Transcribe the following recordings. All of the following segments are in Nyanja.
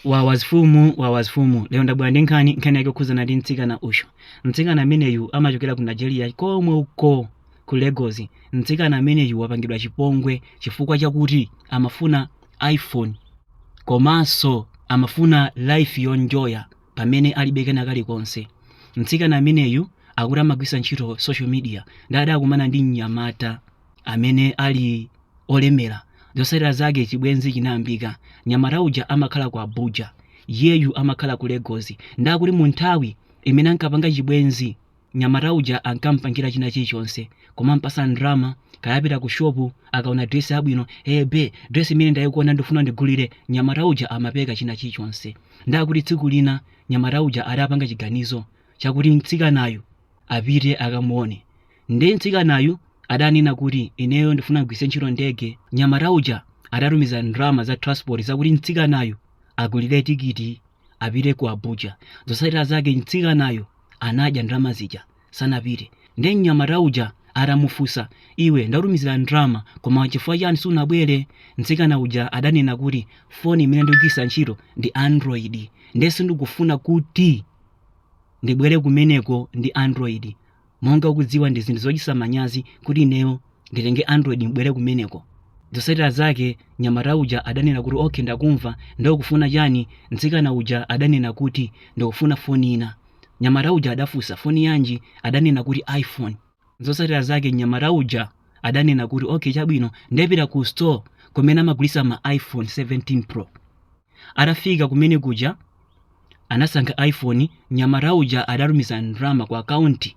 wawazifumu wawazifumu lero ndabwera ndi nkhani nkhani yake okhudzana ndi mtsikana uyu mtsikana ameneyu amachokera ku nigeria komwe uko ku lagos mtsikana ameneyu wapangidwa chipongwe chifukwa chakuti amafuna iphone komanso amafuna life yonjoya pamene alibe kena kalikonse mtsikana ameneyu akuti amagwiritsa ntchito social media ndadakumana ndi mnyamata amene ali olemera zotsatira zake chibwenzi chinayambika nyamata uja amakhala ku abuja iyeyu amakhala ku lagos ndakuti mu nthawi imene ankapanga chibwenzi nyamata uja ankampangira china chilichonse kumampatsa ndalama kaya apita ku shopu akaona dresi yabwino hey be dresi imene ndayikuona ndifuna ndigulire nyamata uja amapereka china chilichonse ndakuti tsiku lina nyamata uja adapanga chiganizo chakuti mtsikanayu apite akamuone Ndiye mtsikanayu adanena kuti ineyo ndifuna kugwiritsa ntchito ndege. Nyamata uja adatumiza ndalama za transport zakuti mtsikanayu agulire tikiti apite ku Abuja. Zotsatira zake mtsikanayo anadya ndalama zija sanapite. Ndiye mnyamata uja atamufunsa, iwe ndakutumizira ndalama koma chifukwa chani sunabwere? Mtsikana uja adanena kuti foni imene ndikugwiritsa ntchito ndi Android ndiye sindikufuna kuti ndibwere kumeneko ndi Android. monga ukudziwa ndi zinthu zochititsa manyazi kuti ineyo nditenge android mbwere kumeneko zotsatira zake nyamata uja adanena kuti okay ndakumva ndiye ukufuna chani mtsikana uja adanena kuti ndikufuna foni ina nyamata uja adafunsa foni yanji adanena kuti iphone zotsatira zake nyamata uja adanena kuti okay chabwino ndipita ku store kumene amagulitsa ma iphone 17 pro atafika kumene kuja anasankha iphone nyamata uja adatumiza ndalama ku akaunti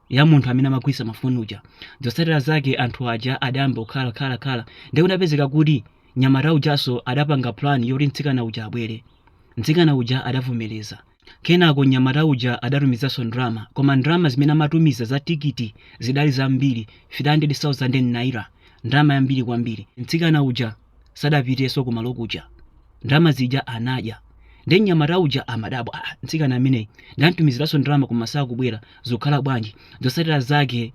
ya munthu amene amagulitsa mafoni uja zotsatira zake anthu aja adayamba kukhala khala khala ndiye kudapezeka kuti nyamata ujanso adapanga plan yoti mtsikana uja abwere mtsikana uja adavomereza kenako nyamata uja adatumizanso ndalama koma ndalama zimene amatumiza za tikiti zidali zambiri 300000 naira ndalama yambiri kwambiri mtsikana uja sadapitenso kumalo kuja ndalama zija anadya nde mnyamata uja amadabwa "Ah, mtsikana ameneyu ndamtumiziranso ndalama koma sakubwera zikukhala bwanji zotsatira zake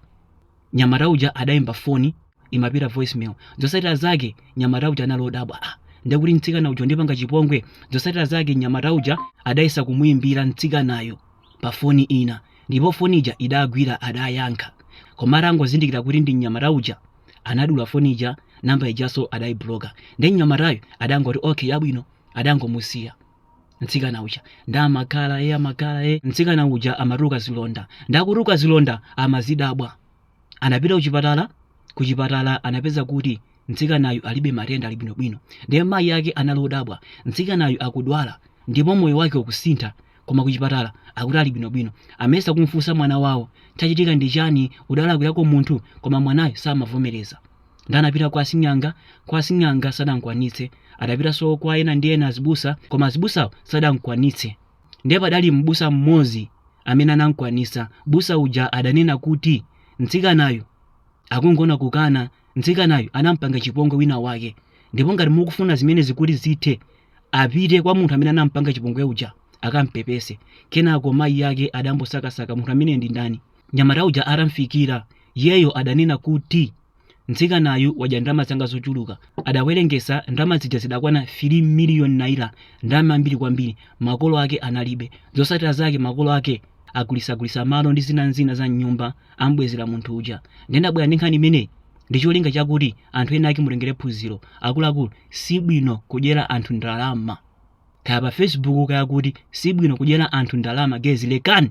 nyamata uja adayimba foni imapita voicemail zotsatira zake nyamata uja anali odabwa "Ah, nde kuti mtsikana uja wandipanga chipongwe zotsatira zake nyamata uja adayesa kumuyimbira mtsikanayo pa foni ina ndipo foni ija idagwira adayankha koma atangozindikira kuti ndi mnyamata uja anadula foni ija namba ijaso adayibloka ndi mnyamatayo adangoti okay yabwino adangomusiya mtsikana uja ndamakhala e amakhala ee mtsikana uja amatuluka zilonda ndikutuluka zilonda amazidabwa anapita kuchipatala kuchipatala anapeza kuti mtsikanayu alibe matenda ali bwinobwino ndiye mayi ake anali odabwa mtsikanayu akudwala ndipo moyo wake ukusintha koma kuchipatala akuti ali bwinobwino amayesa kumfunsa mwana wawo chachitika ndi chani udalakwirako munthu koma mwanayo samavomereza nde anapita kwa asing'anga kwa asing'anga sadamkwanitse adapitanso kwa ena ndi ena azibusa koma azibusawo sadamkwanitse ndiye padali m'busa mmodzi amene anamkwanitsa m'busa uja adanena kuti mtsikanayu akungokanakana mtsikanayu anampanga chipongwe wina wake ndipo ngati mukufuna zimenezi kuti zithe apite kwa munthu amene anampanga chipongwe uja akampepese kenako mayi ake adambosakasaka munthu amene ndi ndani nyamata uja atamfikira iyeyo adanena kuti mtsikanayu wadya ndalama zanga zochuluka adawerengesa ndalama zija zidakwana 3 miliyoni naira ndalama zambiri kwambiri makolo ake analibe zosatira zake makolo ake agulisagulisa malo ndi zina n'zina za mnyumba am'bwezera munthu uja. Ndiye ndabwera ndi nkhani imeneyi ndi cholinga chakuti anthu ena ake mutengere phunziro. Akuluakulu, si bwino kudyera anthu ndalama. Kaya pa Facebook kaya kuti, si bwino kudyera anthu ndalama guys, lekani!